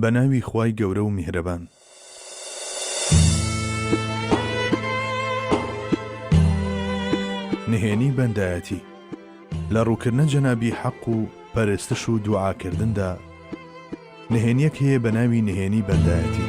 بە ناوی خوای گەورە و میهرەبان. نهێنی بەندایەتی لە ڕووکردنە جەنابی حەق و پەرستش و دوعاکردندا نهێنیەک هەیە بە ناوی نهێنی بەندایەتی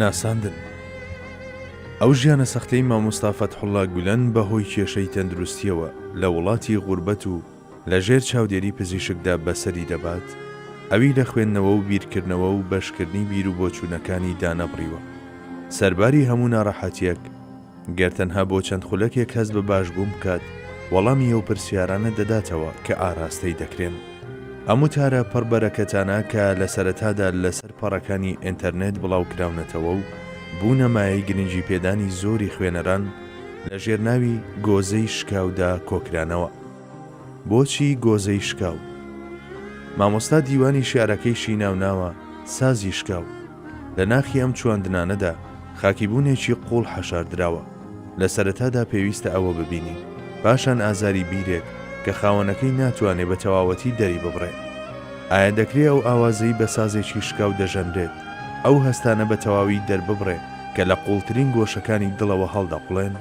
ناساندن ئەو ژیانە سەختەی مامۆستا فەتحوڵا گولەن بە هۆی کێشەی تەندروستیەوە لە وڵاتی غوربەت و لە ژێر چاودێری پزیشکدا بەسەری دەبات ئەوی لە خوێندنەوە و بیرکردنەوە و بەشکردنی بیرو بۆچوونەکانی دانەبڕیوە سەرباری هەموو ناڕەحەتیەک گەر تەنها بۆ چەند خولەکێک هەست بە باشبوون بکات، وەڵامی ئەو پرسیارانە دەداتەوە کە ئاراستەی دەکرێن. ئەم وتارە پڕ بەرەکەتانە کە لە سەرەتادا لەسەر پەڕەکانی ئێنتەرنێت بڵاوکراونەتەوە و بوونە مایەی گرنگی پێدانی زۆری خوێنەران، لە ژێرناوی، گۆزەی شکاو، دا کۆکرانەوە. بۆچی گۆزەی شکاو؟ مامۆستا دیوانی شیعرەکەیشی ناوناوە سازی شکاو. لە ناخی ئەم چواندنانەدا خاکیبوونێکی قووڵ حەشاردراوە. لە سەرەتادا پێویستە ئەوە ببینین، پاشان ئازاری بیرێک کە خاوەنەکەی ناتوانێ بە تەواوەتی دەریببڕێ. ئایا دەکرێ ئەو ئاوازەی بە سازێکی شکاو دەژەنرێت، ئەو هەستانە بە تەواوی دەرببڕێ کە لە قووڵترین گۆشەکانی دڵەوە هەڵدەقوڵێن؟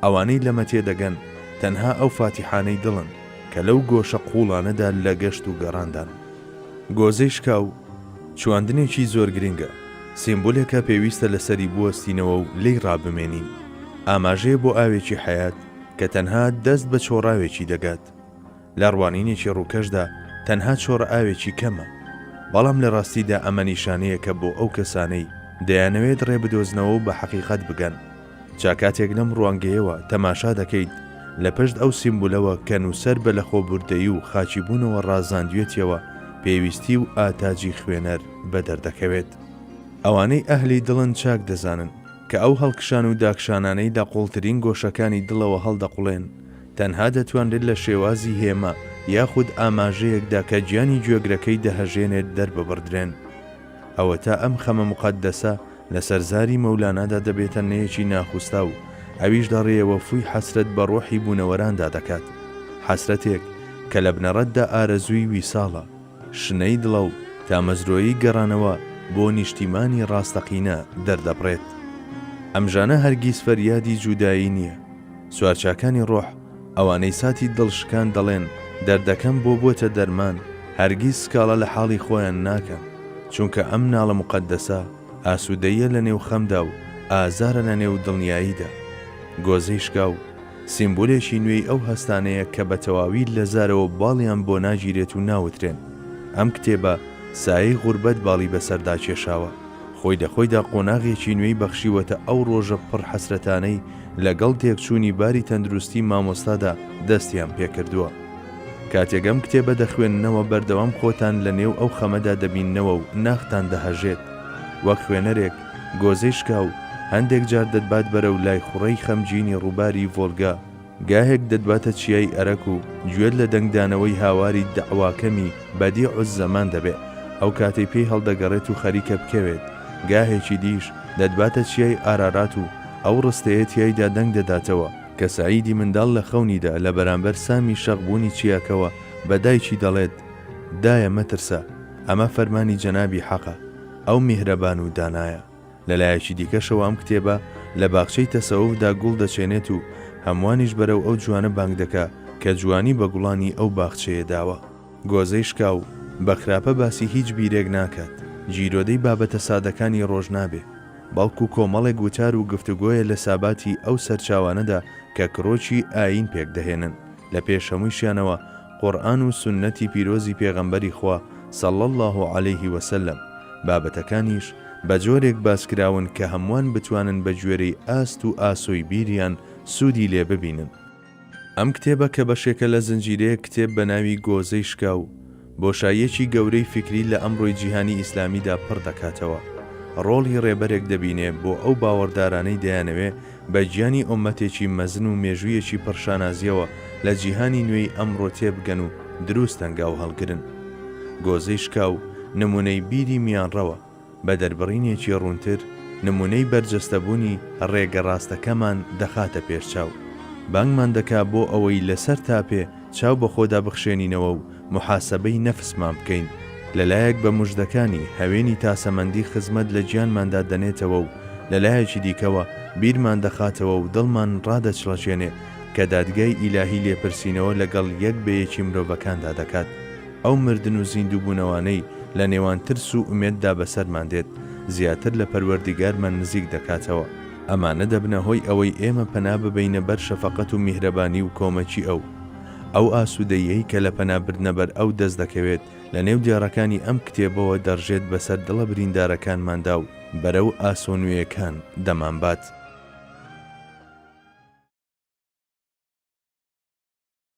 ئەوانەی لەمە تێدەگەن تەنها ئەو فاتیحانەی دڵن کە لەو گۆشە قووڵانەدا لە گەشت و گەڕاندان. گۆزەی شکاو چواندنێکی زۆر گرنگە، سیمبولێکە پێویستە لەسەری بوەستینەوە و لێی ڕابمێنین، ئاماژەیە بۆ ئاوێکی حەیات کە تەنها دەست بە چۆڕاوێکی دەگات. لە ڕوانینێکی ڕووکەشدا تەنها چۆڕ ئاوێکی کەمە، بەڵام لە ڕاستیدا ئەمە نیشانەیەکە بۆ ئەو کەسانەی دەیانەوێت ڕێبدۆزنەوە و بە حەقیقەت بگەن. جا کاتێک لەم ڕوانگەیەوە تەماشا دەکەیت، لە پشت ئەو سیمبولەوە کە نووسەر بە لەخۆبوردەیی و خاکیبوونەوە ڕازاندوێتیەوە، پێویستی و ئاتاجی خوێنەر بە دەردەکەوێت. ئەوانەی ئەهلی دڵن چاک دەزانن کە ئەو هەڵکشان و داکشانانەی لە قوڵترین گۆشەکانی دڵەوە هەڵدەقوڵێن، تەنها دەتوانرێت لە شێوازی هێما یاخود ئاماژەیەکدا کە گیانی گوێگرەکەی دەهەژێنێت دەرببڕدرێن. ئەوەتا ئەم خەمە موقەدەسە، لەسەر زاری مەولانادا دەبێتە نەیەکی ناخوستا و ئەویش دەڕێیەوە فووی حەسرەت بە ڕۆحی بوونەوەراندا دەکات، حەسرەتێک کە لە بنەڕەتدا ئارەزووی ویساڵە، شنەی دڵە و تامەزرۆیی گەڕانەوە بۆ نیشتیمانی ڕاستەقینە دەردەبڕێت. ئەم ژانە هەرگیز فەریادی جودایی نییە. سوارچاکانی ڕۆح، ئەوانەی ساتی دڵ شکان دەڵێن دەردەکەم بۆ بۆتە دەرمان، هەرگیز سکاڵا لە حاڵی خۆیان ناکەن، چونکە ئەم ناڵە موقەدەسە ئاسوودەییە لە نێو خەمدا و ئازارە لە نێو دڵنیاییدا. گۆزەی شکاو، سیمبولێکی نوێی ئەو هەستانەیە کە بە تەواوی لە زارەوە باڵیان بۆ ناگیرێت و ناوترێن. ئەم کتێبە سایەی غوربەت باڵی بەسەردا کێشاوە، خۆی لە خۆیدا قۆناغێکی نوێی بەخشیوەتە ئەو ڕۆژە پڕ حەسرەتانەی لەگەڵ تێکچوونی باری تەندروستی مامۆستادا دەستیان پێکردووە. کاتێک ئەم کتێبە دەخوێننەوە بەردەوام خۆتان لە نێو ئەو خەمەدا دەبیننەوە و ناختان دەهەژێت. وەک خوێنەرێک، گۆزەی شکاو، هەندێک جار دەتبات بەرەو لای خوڕەی خەمگینی ڕووباری ڤۆلگا، گاهێک دەتباتە چیای ئەرەک و گوێت لە دەنگدانەوەی هاواری دەعواکەمی بەدیعوززەمان دەبێت ئەو کاتەی پێی هەڵدەگەڕێت و خەریکە بکەوێت، گاهێکی دیش دەتباتە چیای ئارارات و ئەو ڕستەیە تیایدا دەنگ دەداتەوە کە سەعیدی منداڵ لە خەونیدا لە بەرامبەر سامی شەق بوونی چیاکەوە بە دایکی دەڵێت، دایە مەترسە، ئەمە فەرمانی جەنابی حەقە، ئەو میهرەبان و دانایە. لە لایەکی دیکەشەوە ئەم کتێبە لە باخچەی تەسەوفدا گوڵ دەچێنێت و هەمووانیش بەرەو ئەو جوانە بانگ دەکا کە جوانی بە گوڵانی ئەو باخچەیە داوە. گۆزەی شکاو، بە خراپە باسی هیچ بیرێک ناکات، گیرۆدەی بابەتە سادەکانی ڕۆژ نابێ. بەڵکو کۆمەڵێک وتار و گفتوگۆیە لە ساباتی ئەو سەرچاوانەدا کە کرۆکی ئایین پێکدەهێنن، لە پێش هەموویشیانەوە قورئان و سوننەتی پیرۆزی پێغەمبەری خوا صلی اللە علیه و سلم، بابەتەکانیش بە جۆرێک باسکراون کە هەمووان بتوانن بە گوێرەی ئاست و ئاسۆی بیریان سوودی لێ ببینن. ئەم کتێبە کە بەشێکە لە زنجیرەیەک کتێب بە ناوی گۆزەی شکاو، بۆشاییەکی گەورەی فیکری لە ئەمڕۆی جیهانی ئیسلامیدا پڕ دەکاتەوە. ڕۆڵی ڕێبەرێک دەبینێ بۆ ئەو باوەڕدارانەی دەیانەوێ بە گیانی ئۆممەتێکی مەزن و مێژوویەکی پڕ شانازییەوە لە جیهانی نوێی ئەمڕۆ تێ بگەن و دروست هەنگاو هەڵگرن. گۆزەی شکاو نموونەی بیری میانڕەوە. بە دەربڕینێکی ڕوونتر نموونەی بەرجەستەبوونی ڕێگە ڕاستەکەمان دەخاتە پێشچاو. بانگمان دەکا بۆ ئەوەی لە سەر تاپێ چاو بە خۆدا بخشێنینەوە و موحاسەبەی نەفسمان بکەین. لە لایەک بە موژدەکانی هەوێنی تاسەمەندی خزمەت لە گیانماندا دەنێتەوە و لە لایەکی دیکەوە بیرمان دەخاتەوە و دڵمان ڕادەچڵەکێنێ کە دادگای ئیلاهی لێپرسینەوە لەگەڵ یەک بە یەکی مرۆڤەکاندا دەکات. ئەو مردن و زیندووبوونەوانەی لە نێوان ترس و ئومێددا بەسەرمان دێت، زیاتر لە پەروەردیگارمان نزیک دەکاتەوە. ئەمانە دەبنە هۆی ئەوەی ئێمە پەنا ببەینە بەر شەفەقەت و میهرەبانی و کۆمەکی ئەو. ئەو ئاسوودەییەی کە لە پەنا بردنە بەر ئەو دەست دەکەوێت، لە نێو دێڕەکانی ئەم کتێبەوە دەڕژێت بەسەر دڵە بریندارەکانماندا و بەرەو ئاسۆ نوێیەکان دەمانبات.